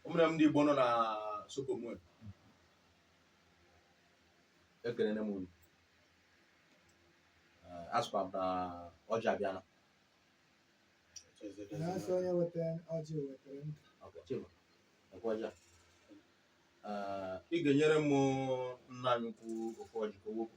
ụmụnne m ndị Igbo nọ na Sokomo ekelene m unu asụkwa m na ọjị abịala na-asị onye wetara ọjị wetara ndụ ọkwa chima ọkwa ọjị a Ee, ị ga-enyere m nna anyị ukwu ofu ọjị ka o wepụ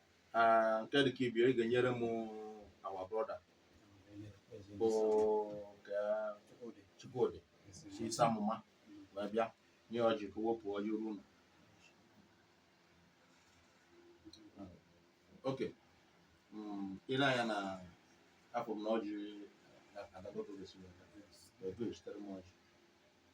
Ah, nke dị ka ibie ị ga-enyere m our brother bụ Chukwudi si isi amụma wee bịa nye ọjị ka o wepụ ọjị ruo ụlọ okay mm, i le anya n'aka m na ọjị na-adagotogesi wee bịa, wee bịa ezitere m ọjị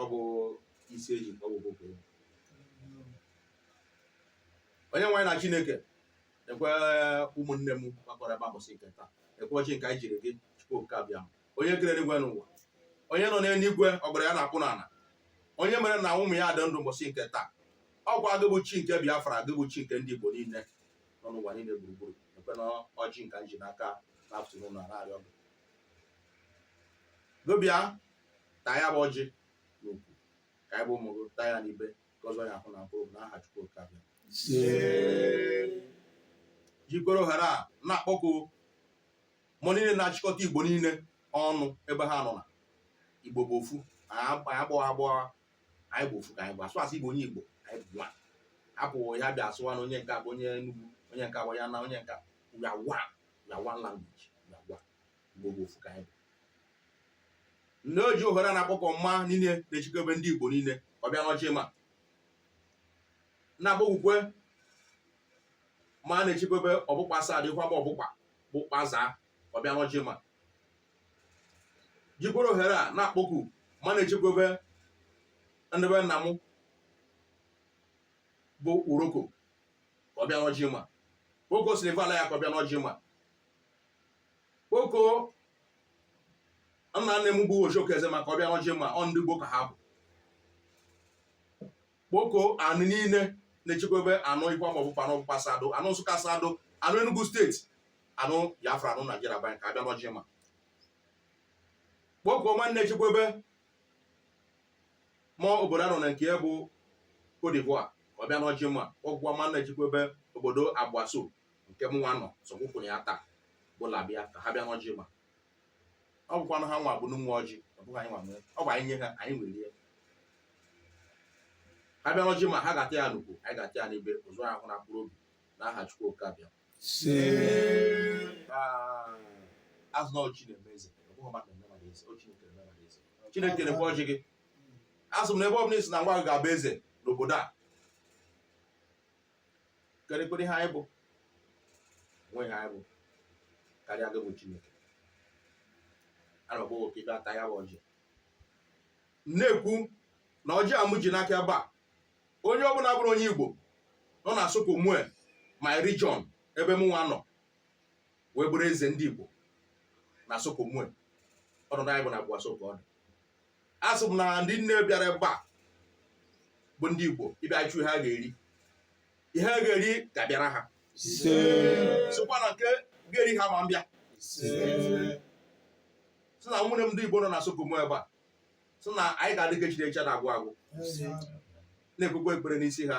ọ bụ isi eji ọ bụ okwu ya. Onyenwe anyị na Chineke lekwe ụmụnne m gbakọrọ ebe a mbọsị nke taa lekwe ọjị nke anyị ji arịọ gị Chukwu oke Abịama. onye kere eluigwe na ụwa onye nọ n'eluigwe ọgọdọ ya na-akpụ n'ala onye mere na ụmụ ya dị ndụ mbọsị nke taa ọkwa gị bụ chi nke Biafra gị bụ chi nke ndị Igbo niile nọ n'ụwa niile gburugburu lekwenụ ọjị nke anyị ji n'aka n'afternoon na-arịọ gị gị bịa taa ya bụ ọjị n'ukwu ka anyị bụ ụmụ gị taa ya n'ibe ka ọ zọọ anyị ahụ na mkpụrụ na aha Chukwu Okike Abịama jikwere ohere a na-akpọku mmụọ niile na-achịkọta igbo niile ọnụ ebe ha nọ na igbo bụ ofu anyị abụghị abụọ anyị bụ ofu ka anyị bụ asụsụ igbo onye igbo anyị bụ nwa hapụ ya bịa asụwa na onye nke a bụ onye Enugu onye nke a bụ ya na onye nke we are one we are one language we are one Igbo bụ ofu ka anyị bụ nne o ji ohere a na-akpọku mma niile na-echekwebe ndị Igbo niile ọ bịa n'ọjị ma na-akpọkukwe mma na-echekwebe Obukpa Asadu ikwa ma Obukpa bụ kpaza ọ bịa n'ọjị ma jikwere ohere a na-akpọku mma na-echekwebe ndị be nna m bụ Uroko ka ọ bịa n'ọjị ma Oko Silva la ya ka ọ bịa n'ọjị ma kpọkuo nna nne m bụ Ojoka Ezema ka ọ bịa n'ọjị ma ọ ndị Igbo ka ha bụ kpọkuo anụ niile na-echekwebe anụ ikwa ma Obukpa anụ Obukpa Asadu anụ Nsụka Asadu anụ Enugu steeti anụ Biafra anụ Naijiria be anyị ka ha bịa n'ọjị ma kpọkuo mma na-echekwebe ma obodo a nọ na nke bụ Cote d'Ivoire ọ bịa n'ọjị ma kpọkwa mma na-echekwebe obodo Aboisso nke mụnwa nọ sọkwụkwụrụ ya taa bụ labịa ka ha bịa n'ọjị ma ọ bụkwanụ ha nwa bụ ndị nwe ọjị ọ bụghị anyị nwa nwee ọ bụ anyị nye ha anyị nwere ihe ha bịa n'ọjị ma ha ga-ata ya n'ukwu anyị ga-ata ya n'ibe ụzọ ahụ na mkpụrụ obi na aha Chukwu Oke abịa asị na ọ chi na-eme eze ọ bụghị mmadụ na-eme mmadụ eze ọ chi na-ekere eme mmadụ eze Chineke na-ekwe ọjị gị asị m na ebe ọ bụ na ị sị na nwa gị ga-abụ eze n'obodo a kerekwara ihe anyị bụ nwe ihe anyị bụ karịa gị bụ chineke ana m gbawo ka ibe ata ya bụ ọjị na-ekwu na ọjị a mụ ji n'aka ebe a onye ọbụla bụrụ onye igbo nọ na Sud-Comoe my region ebe m nwa nọ wee bụrụ eze ndị igbo na Sud-Comoe ọnọdụ anyị bụ na Aboisso ka ọ dị asị m na ndị niile bịara ebe a bụ ndị Igbo ịbịa chọ ihe ha ga-eri ihe ha ga-eri ga-abịara ha sịkwa na nke ga-eri ha ama abịa sị na ụmụnne m ndị Igbo nọ na Sud-Comoe ebe a sị na anyị ga-adị ka echi echi anaghị agwụ agwụ na-ekpekwa ekpere n'isi ha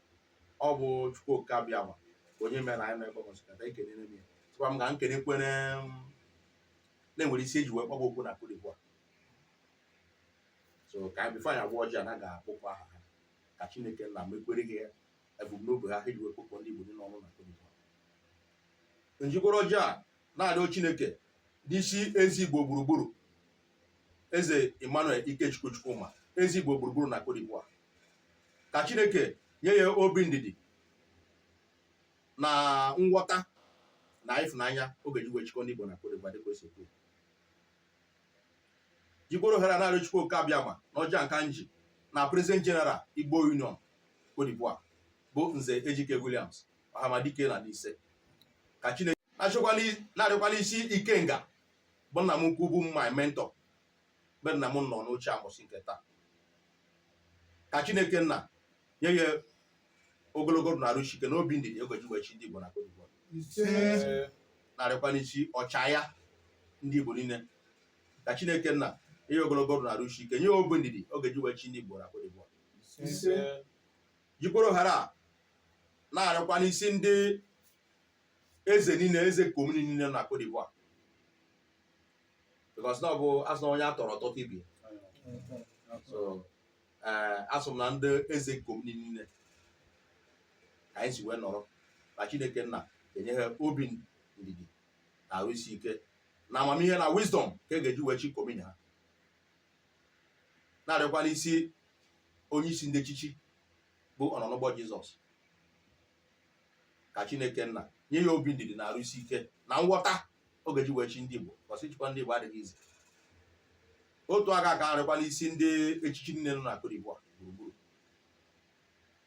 ọ bụ chukwu oke abịama onye mere anyị mekwa ụbọchị nke taa ekelere m ya tụkwa m ga nkene kwere na-enwere isi eji wee kpọba okwu na Cote d'Ivoire so ka anyị bifo anyị agọwa ọjị a na ga-akpọkwa aha ha ka chineke nna mekwere gị ebumnobi ha ha eji wee kpọkọọ ndị igbo niile ọnụ na Cote d'Ivoire m jikworo ọjị a na-arịọ chineke n'isi eze igbo gburugburu eze emmanuel ikechukwu chukwuma eze igbo gburugburu na Cote d'Ivoire ka chineke nye ya obi ndidi na nghọta na ịfụnanya ọ ga-eji wee chịkọ ndị igbo na Cote d'Ivoire dịka o si ekwu jikworo ohere a na-arịọ chukwu oke abịama na ọjị nke a m ji na president general igbo union Cote d'Ivoire bụ nze ejike williams ọhamadike na Nise ka chineke na-arịọkwa n'isi ikenga bụ nna m ukwu bụ my mentor mgbe nna m nọ n'oche mbọsị nke taa ka chineke nna nye ya ogologo ndụ na arụ isi ike na obi ndidi ọ ga-eji wee chị ndị igbo na Cote d'Ivoire na-arịọkwa n'isi ọchịagha ndị igbo niile ka chineke nna nye ya ogologo ndụ na arụ isi ike nye ya obi ndidi ọ ga-eji wee chị ndị igbo na Cote d'Ivoire jikwara ohere a na-arịọkwa n'isi ndị eze niile eze commune niile na Cote d'Ivoire because na ọ bụ asị na onye a tọrọ tọta ibe ya so ee asị m na ndị eze commune niile ka anyị si wee nọrọ na chineke nna enye ha obi ndidi na arụ isi ike na amamihe na wisdom ka e ga-eji wee chị commune ha na-arịọkwa n'isi onye isi ndị echichi bụ ọnọ n'ụgbọ jizọs ka chineke nna nye ya obi ndidi na arụsi ike na nghọta ọ ga-eji wee chị ndị igbo cause ịchịkwa ndị igbo adịghị easy otu aka ka m rịọkwa n'isi ndị echichi niile nọ na Côte d'Ivoire gburugburu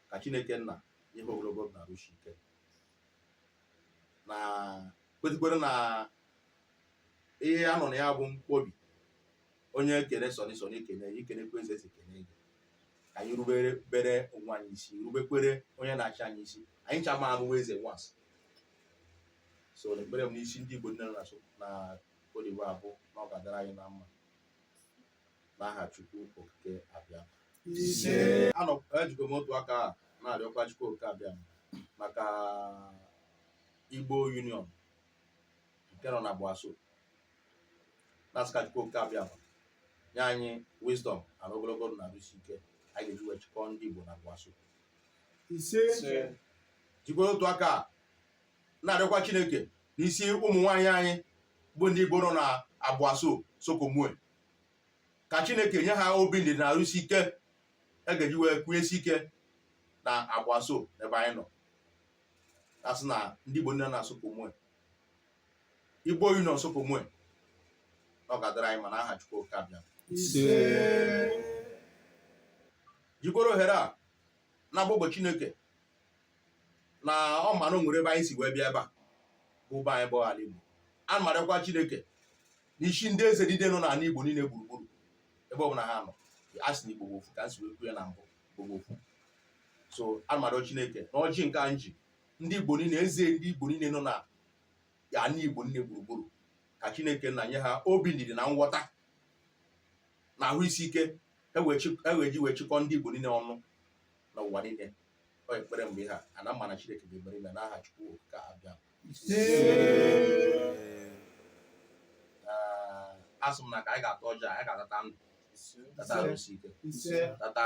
ka chineke nna nye ha ogologo ndụ na arụsi ike na kwetekwere na ihe a nọ na ya bụ mkpobi onye kene Sunny Sunny ekene i kenekwa eze eze ekene gị ka anyị rubere onwe anyị isi rubekwere onye na-achị anyị isi anyị ncha ma abụwa eze once so na ekpere m n'isi ndị Igbo niile nọ na Côte d'Ivoire bụ na ọ ga-adịrị anyị na mma n'aha Chukwu okike abịama ejikwa m otu aka a na-arịọkwa Chukwu okike abịama maka Igbo Union nke nọ na Aboisso na-asị ka Chukwu okike abịama nye anyị wisdom na ogologo ndụ na arụsi ike anyị ga-eji wee chịkọọ ndị Igbo na Aboisso ise jikwara otu aka a na-arịọkwa Chineke n'isi ụmụ nwaanyị anyị bụ ndị Igbo nọ na Aboisso Sud-Comoé ka Chineke nye ha obi ndidi na arụsi ike e ga-eji wee kwunyesi ike na Aboisso ebe anyị nọ asị na ndị Igbo niile nọ na Sud-Comoé igbo union Sud-Comoé na ọ ga-adịrị anyị mma n'aha chukwu okike abịama jikwara ohere a na-akpọku chineke na ọ ma na o nwere ebe anyị si wee bịa ebe a bụ be anyị bụ ala igbo ana m arịọkwa chineke n'isi ndị eze niile nọ n'ala igbo niile gburugburu ebe ọbụla ha nọ a sị na igbo bụ ofu ka m si wee kwuo ya na mbụ igbo bụ ofu so ana m arịọ chineke na ọjị nke a m ji ndị igbo niile eze ndị igbo niile nọ na ala igbo niile gburugburu ka chineke nna nye ha obi ndidi na nghọta na ahụ isi ike e wee ji wee chịkọ ndị igbo niile ọnụ na ụwa niile ọ ekpere mgbe ha a na mma na chineke ga-emere na n'aha chukwu okike abịama asị m na ka anyị ga-ata ọjị a anyị ga-atata ndụ tata arụsi ike tata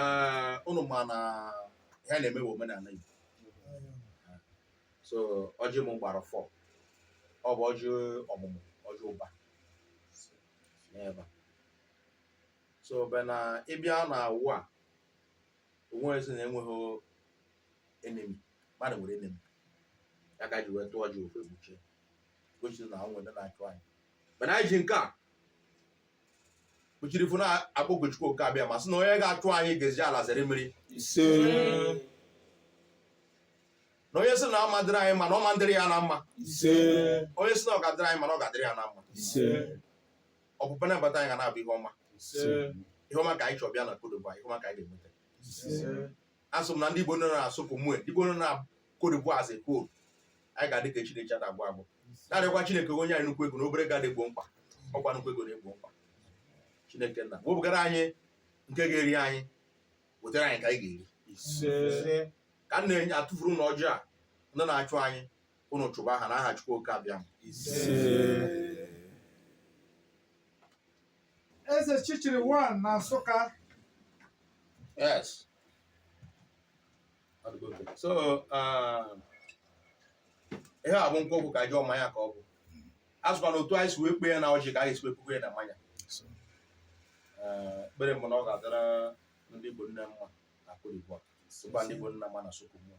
ee unu ma na ihe a na-eme bụ omenala Igbo so ọjị m gbara four ọ bụ ọjị ọmụmụ ọjị ụba n'ebe a. so be na ịbịa na ụwa a onwe ezi na enweghị enemy mmadụ nwere enemy ya ka e ji wee tụọ ọjị ofu ekpuchie gosi na o nwere ndị na-achụ anyị mana anyị ji nke a kpuchiri ifu na-akpọku Chukwu Okike Abịama sị na onye ga-achụ anyị ga-eji ala zere mmiri ise na onye sị na ọ ma-adịrị anyị mma na ọ ma-adịrị ya na mma ise onye sị na ọ ga-adịrị anyị mma na ọ ga-adịrị ya na mma ise ọpụpụ na mbata anyị ga na-abụ ihe ọma ise ihe ọma ka anyị chọọ bịa na Côte d'Ivoire ihe ọma ka anyị ga-enweta ise asị m na ndị Igbo nọ na Sud-Comoé ndị Igbo nọ na Côte d'Ivoire as a whole anyị ga-adị ka echi na echi ada agwụ agwụ na-arịọkwa Chineke o nye anyị nnukwu ego na obere ego adị egbo mkpa ọkwa nnukwu ego na-egbo mkpa Chineke nna wepụgara anyị nke ga-eri anyị wetara anyị nke anyị ga-eri ka m na-enye atụfuru ụlọ ọjọọ a ndị na-achụ anyị unu chụba ha na aha Chukwu Oke Abịama Eze chichiri one na Nsụka. Yes. So, uh, ihe a bụ nkwụ ọgwụ ka jụọ mmanya ka ọ bụ. Asịkwa na otu anyị si wee kpee ya na ọjị ka anyị si wee kpee ya na mmanya. Ekpere m bụ na ọ ga-adịra ndị Igbo niine mma na Côte d'Ivoire. Sịkwa ndị Igbo niine mma na Sud-Comoé.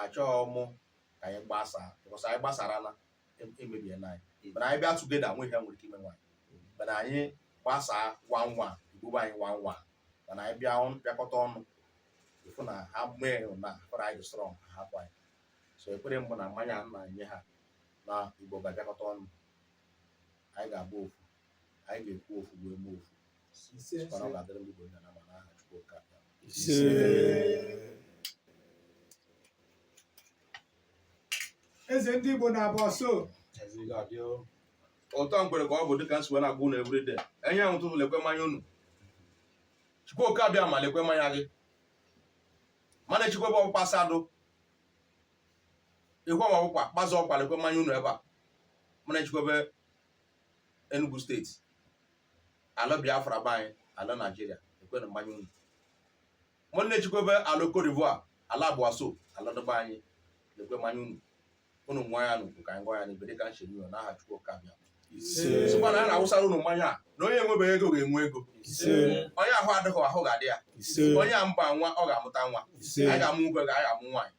achọghị mụ ka anyị gbasaa because anyị gbasarala emebiela anyị mana anyị bịa together o nwe ihe nwere ike imenwu anyị mana anyị gbasaa one one e gbube anyị one one mana anyị bịa bịakọta ọnụ ịfụ na ha mee na fọrọ anyị strong ha hapụ anyị so ekpere m bụ na mmanya a na-enye ha na Igbo ga-abịakọta ọnụ anyị ga-abụ ofu anyị ga-ekwu ofu wee mee ofu mana ọ ga-adịrị ndị Igbo niine mma na aha Chukwu Oke Abịa eze ndị Igbo na Aboisso ụtọ mgbere ka ọ bụ dịka m si wee na-agwa unu everyday anyanwụ ụtụtụ lekwe mmanya unu Chukwu Oke Abịama lekwe mmanya gị m na-echekwube Obukpa Asadu ịhụ ma Obukpa kpazụ ọkwa lekwe mmanya unu ebe a m na-echekwube Enugu steeti ala Biafra be anyị ala Naijiria lekwenụ mmanya unu m na-echekwube ala Cote d'Ivoire ala Aboisso ala dị be anyị lekwe mmanya unu unu ṅụa ya n'ukwu ka anyị ṅụa ya n'ibe dịka m cheere unu na aha Chukwu Oke Abịa sịkwa na a na-awụsara unu mmanya a na onye enwebeghị ego ga-enwe ego onye ahụ adịghị ahụ ga-adị ya onye amụba nwa ọ ga-amụta nwa anyị ga-amụ nwoke ga anyị ga-amụ nwaanyị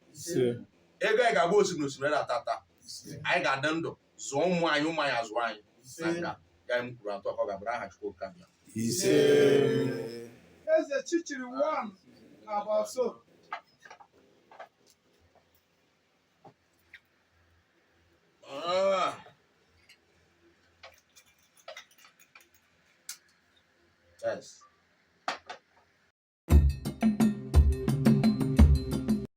ego anyị ga-agba osimiri osimiri na-ata ata anyị ga-adị ndụ zụọ ụmụ anyị ụmụ anyị azụọ anyị na nke a m kwuru etu a ka ọ ga-abụrụ aha Chukwu Oke Abịa ise Eze Chichiri one na Aboisso. Ah. Yes.